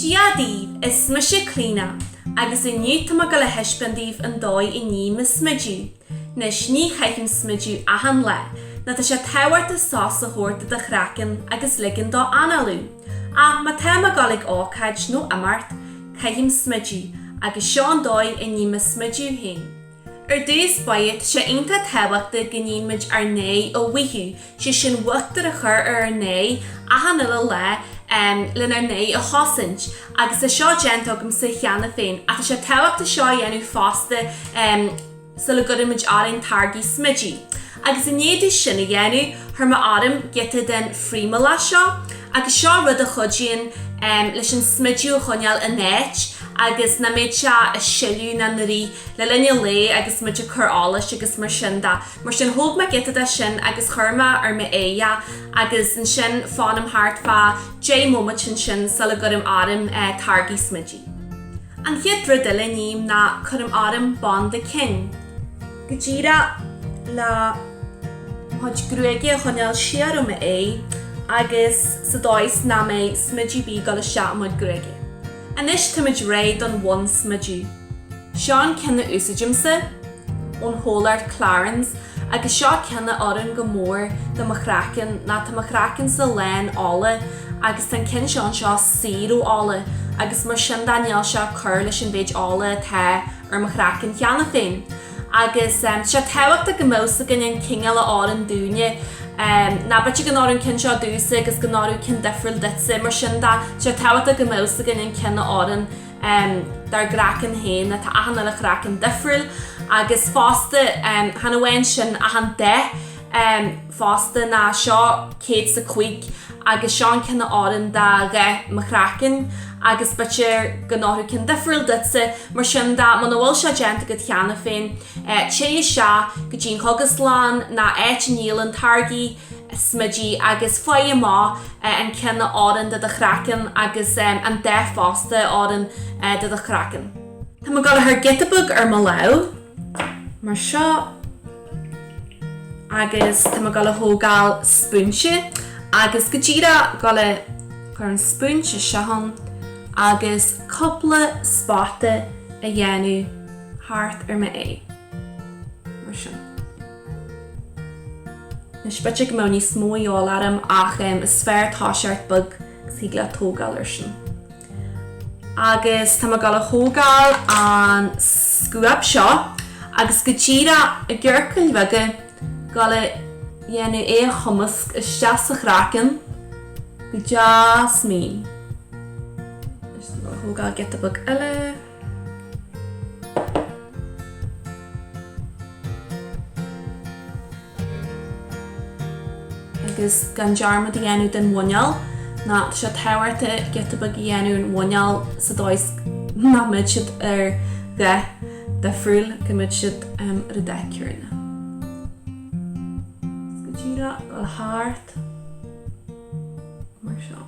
Dia daoibh, is mise Clíodhna agus inniu tá mé ag dul a thaispeáint daoibh an dóigh a ním mo smideadh. Anois, ní chaithim smideadh achan lá, ná tá sé tábhachtach sos a thabhairt do do chraiceann agus ligean dó análú, ach má tá mé ag dul chuig ócáid nó imeacht, caithim smideadh, agus seo an dóigh a ním mo smideadh féin. Ar dtús bheadh sé iontach tábhachtach go níonn muid ár n-aghaidh a mhaothú, sé sin uachtar a chur ar ár n-aghaidh achan uile lá lenár n-aghaidh a chosaint, agus tá seo déanta agamsa cheana féin ach tá sé tábhachtach seo a dhéanamh fosta sula gcuirimid orainn táirgí smididh. Agus i ndiaidh domh sin a dhéanamh, chuir mé orm giota den phrímeálach seo, agus seo rud a chuidíonn leis an smideadh a choinneáil in áit agus nach mbeidh sé ag sileadh ná ina rith le linn an lae agus muid ag cur allais agus mar sin de. Mar sin, thóg mé giota de sin agus chuir mé ar m'aghaidh é agus ansin fanaim thart fá 10 mbomaite ansin sula gcuirim orm táirgí smididh. An chéad rud eile a ním ná cuirim orm banda cinn. go díreach le mo chuid gruaige a choinneáil siar ó m'aghaidh agus sa dóigh is nach mbeidh smideadh ar bith ag dul isteach i mo chuid gruaige. Anois táimid réidh don bhonnsmideadh. Seo an ceann a úsáidimse, ón chomhlacht Clarins, agus seo ceann a oireann go mór do mo chraiceann ná tá mo chraicennsa lán ola agus tá an ceann seo anseo saor ó ola agus mar sin de níl sé ag cur leis an mhéid ola atá ar mo chraiceann cheana féin. Agus tá sé tábhachtach go mbeadh a fhios againn an cineál a oireann dúinne. Ná b'fhéidir go n-oireann an ceann seo domhsa agus go n-oirfeadh ceann difriúil duitse, mar sin de, tá sé tábhachtach go mbeadh a fhios againn an ceann a oireann dár gcraiceann féin, ná tá achan uile chraiceann difriúil, agus fosta chan amháin sin ach an dath. fosta ná seo céad is a cúig agus seo an ceann a oireann do dhath mo chraicinn agus b'fhéidir go n-oirfeadh ceann difriúil duitse, mar sin de, muna bhfuil sé déanta agat cheana féin, téigh isteach go dtí an chógaslann ná áit a ndíolann táirgí smididh agus faigh amach an ceann a oireann do do chraiceann agus an dath fosta a oireann do do chraiceann. Tá mé ag dul a chur giota beag ar mo lámh, mar seo. Agus tá mé ag dul a thógáil spúinse agus go díreach ag dul a chur an spúinse isteach ann agus cúpla spota a dhéanamh thart ar m'aghaidh. Mar sin. Anois, b'fhéidir go mbeadh níos mó a dhíobháil orm ach is fearr toiseacht beag agus thig leat tógáil air sin. Agus tá mé ag dul a thógáil an scuab seo agus go díreach i gciorcail bheaga, dul a dhéanamh é a chumasc isteach sa chraiceann go deas mín. Anois tá mé ag dul a thógáil giota beag eile. agus gan dearmad a dhéanamh den mhuineál, ná tá sé tábhachtach giota beag a dhéanamh den mhuineál sa dóigh 's nach mbeidh siad ar dhath difriúil, go mbeidh siad ar an dath céanna. 'S go díreach ag dul thart mar seo.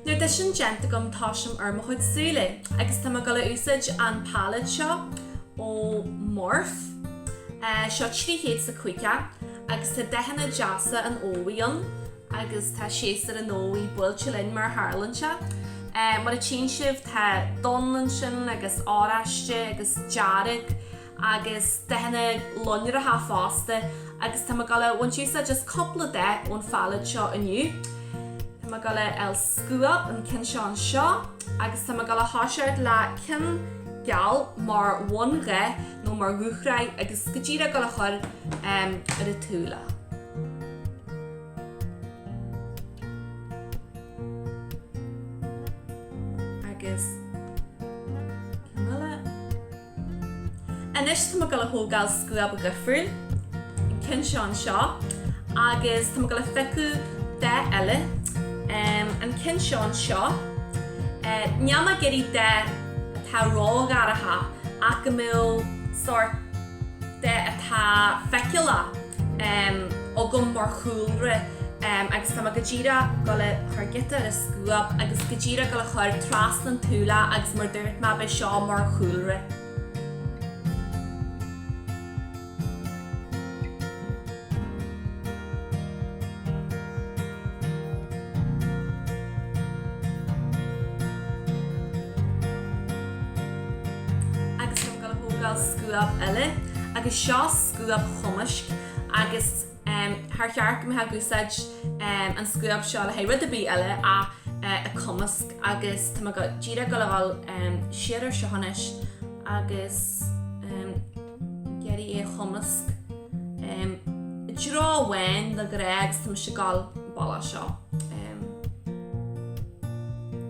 Nuair atá sin déanta agam tosaím ar mo chuid súile agus tá mé ag dul a úsáid an palette seo ó Morphe. Seo trí chéad is a caoga agus tá dathanna deasa an fhómhair ann agus tá séasúr an fhómhair buailte linn mar a tharlaíonn sé. Mar a tchíonn sibh tá donn ansin agus oráiste agus dearg. agus dathanna lonracha fosta, agus tá mé ag dul a bhaint úsáid as just cúpla dath ón phalette seo inniu. Tá mé ag dul a fháil scuab, an ceann seo anseo, agus tá mé ag dul a thoiseacht le ceann geal mar bhundath nó mar dhúshraith agus go díreach ag dul a chur ar an tsúil. agus ceann eile. Anois tá mé ag dul a thógáil scuab dhifriúil, an ceann seo anseo, agus tá mé ag dul a phiocadh dath eile, an ceann seo anseo. Níl mé ag iarraidh dath atá ródhorcha ach go mbeadh sórt dath atá feiceálach. agam mar chúlra agus tá mé go díreach ag dul a chur giota ar an scuab agus go díreach ag dul a chur trasna an tsúile agus mar dúirt mé beidh seo mar chúlra. agus tá mé ag dul a thógáil scuab eile agus seo. scuab chumaisc agus char cheart go mbeifeá ag úsáid an scuab seo le haghaidh rud ar bith eile ach é a cumasc agus tá mé go díreach ag dul a dhul siar ar seo anois agus ag iarraidh é a chumasc i dtreo amháin go réidh agus tá mise ag dul an bealach seo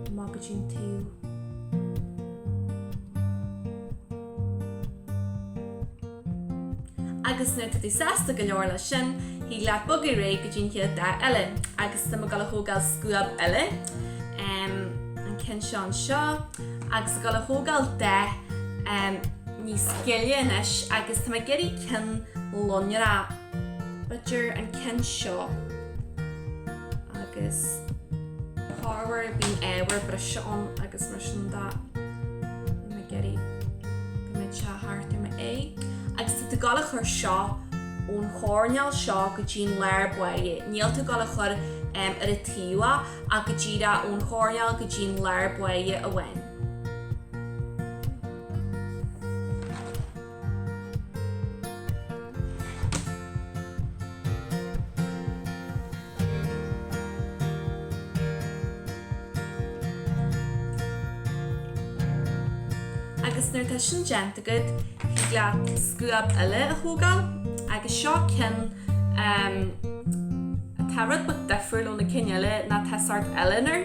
amach go dtí an taobh. Agus nuair atá tú sásta go leor leis sin, thig leat bogadh réidh go dtí an chéad dath eile. Agus tá mé ag dul a thógáil scuab eile, an ceann seo anseo, agus ag dul a thógáil dath níos gile anois, agus tá mé ag iarraidh ceann lonrach. B'fhéidir an ceann seo agus. corruair bíonn ábhar breise ann agus mar sin de. Níl mé ag iarraidh go mbeadh sé thart ar m'aghaidh. Agus tá tú ag dul a chur seo ón choirnéal seo go dtí an lár báire. Níl tú ag dul a chur ar an taobh ach go díreach ón choirnéal go dtí an lár báire amháin. Agus nuair atá sin déanta agat, thig leat scuab eile a thógáil agus seo ceann atá rud beag difriúil ó na cinn eile ná tá sórt uillinn air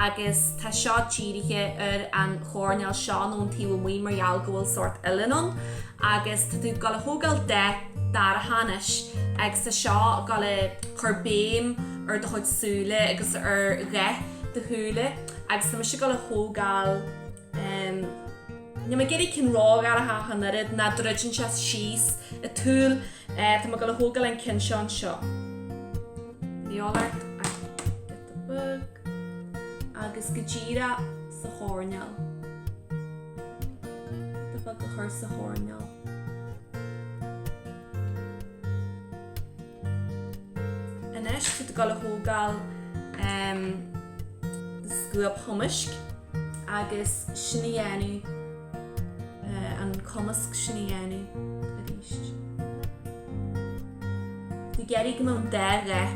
agus tá seo dírithe ar an choirnéal seo ón taobh amuigh mar gheall go bhfuil sórt uillinn ann agus tá tú goil a thógáil dath dorcha anois agus tá seo goil a chur béim ar do chuid súile agus ar dhath do shúile agus tá mise goil a thógáil em níl mé ag iarraidh ceann ródhorcha ach an oiread nó druideann sé síos an tsúil eh tá mé goil a thógáil an ceann seo anseo. An eol ort? Bog agus go díreach sa choirneál. Tá mé ag dul a chur sa choirneál. Anois tú ag dul a thógáil scuab chumaisc agus sin a dhéanamh, an cumasc sin a dhéanamh arís. Tú ag iarraidh go mbeadh an dá dhath.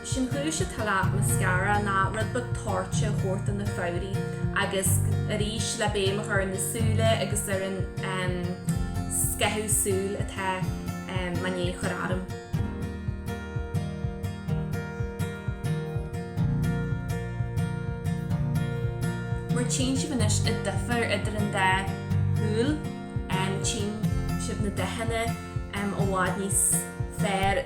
Sin an chúis atá le mascara, ná rud beag toirte a thabhairt do na fabhraí agus arís le béim a chur ar na súile agus ar an em. scáthú súl atá em. mé i ndiaidh a chur orm. Mar tchíonn sibh anois an difear idir an dá shúil em. tchíonn sibh na dathanna em. i bhfad níos fearr.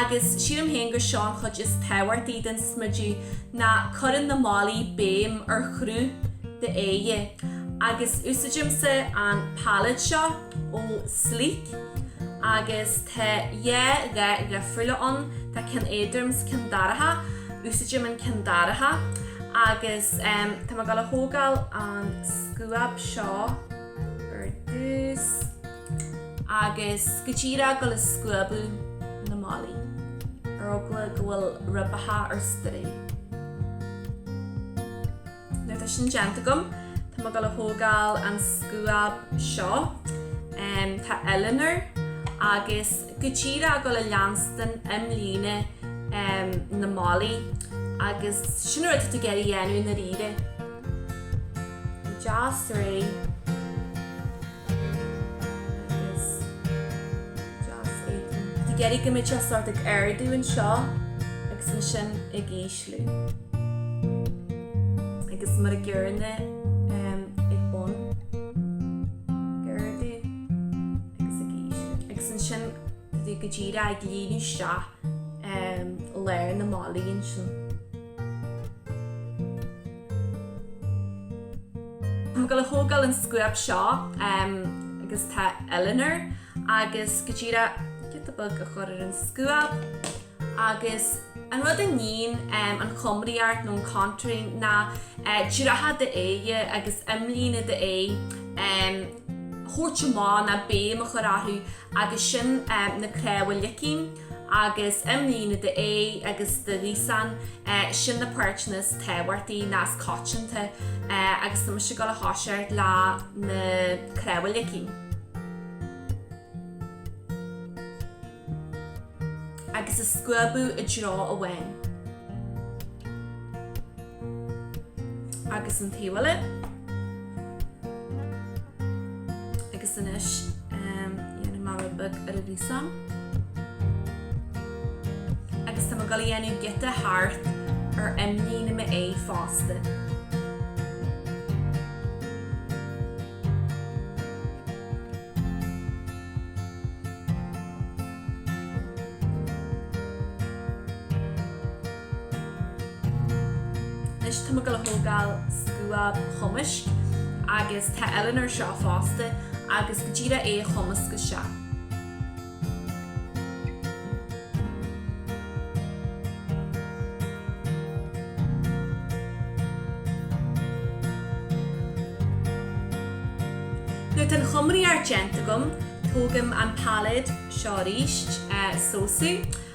agus sílim féin gur seo an chuid is tábhachtaí den smideadh ná cuireann na malaí béim ar chruth d'aghaidhe agus úsáidimse an palette seo ó Sleek agus tá dhá dhath dhifriúla ann, tá ceann éadrom 's ceann dorcha, úsáidim an ceann dorcha agus em tá mé ag dul a thógáil an scuab seo ar dtús. agus go díreach ag dul a scuabadh na malaí, ar eagla go bhfuil ribeacha ar strae. Nuair atá sin déanta agam, tá mé ag dul a thógáil an scuab seo, tá uillinn air, agus go díreach ag dul a leanstan imlíne na malaí, agus sin an rud atá tú ag iarraidh a dhéanamh i ndáiríre. Go deas réidh. Is deas é. Ag iarraidh go mbeidh sé sórt ag ardú anseo agus ansin ag ísliú. Agus mar an gcéanna ag bun. Ag ardú agus ag ísliú. Agus ansin go díreach ag líonadh isteach lár na malaí ansin. Ag dul a thógáil an scuab seo agus tá uillinn air agus go díreach giota beag a chur ar an scuab agus an rud a níonn an chumraíocht nó an contouring ná dreacha d'aghaidhe agus imlíne d'aghaidh a thabhairt amach ná béim a chur orthu agus sin na cnámha leicinn. agus imlíne d'aghaidhe agus do ghaosán, sin na páirteanna is tábhachtaí ná is coitianta, agus tá mise ag dul a thoiseacht le na cnámha leicinn. agus a scuabadh i dtreo amháin. agus an taobh eile agus anois dhéanfaidh mé rud beag ar an ghaosán agus tá mé ag dul a dhéanamh giota thart ar imlíne m'aghaidhe fosta. Anois tá mé ag dul a thógáil scuab chumaisc agus tá uillinn air seo fosta agus go díreach é a chumasc isteach. Nuair tá an chumraíocht déanta agam tógaim an pailéad seo arís, SoSu,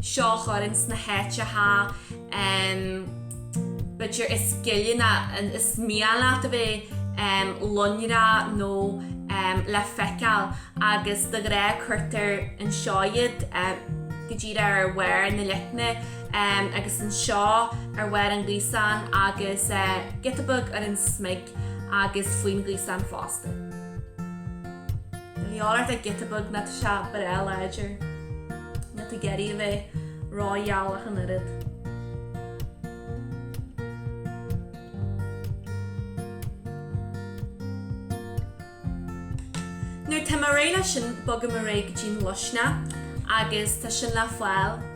seo a chur ins na háiteacha b'fhéidir is gile ná is mian leat a bheith, loinnreach nó le feiceáil, agus de ghnáth cuirtear anseo iad, go díreach ar bharr na leicne agus anseo ar bharr an ghaosáin agus giota beag ar an smig agus faoin ghaosán fosta. dhíobháil ort ach giota beag ná tá sé breá láidir. Níl tú ag iarraidh a bheith rógheal ach an oiread. Nuair tá mé réidh leis sin, bogaim ar aghaidh go dtí'n luisne agus tá sin le fáil.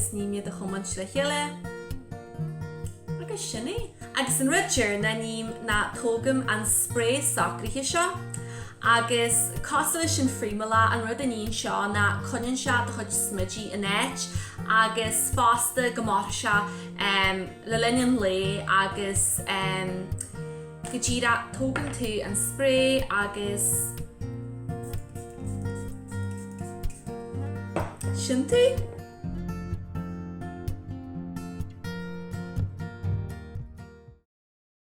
agus ním iad a chuimilt le chéile agus sin é. Agus an rud deireanach a ním ná tógaim an sprae socraithe seo agus cosúil leis an phrímeálach an rud a níonn seo ná coinníonn sé do chuid smididh in áit agus fosta go mairfidh sé le linn an lae agus go díreach tógann tú an sprae agus sin tú!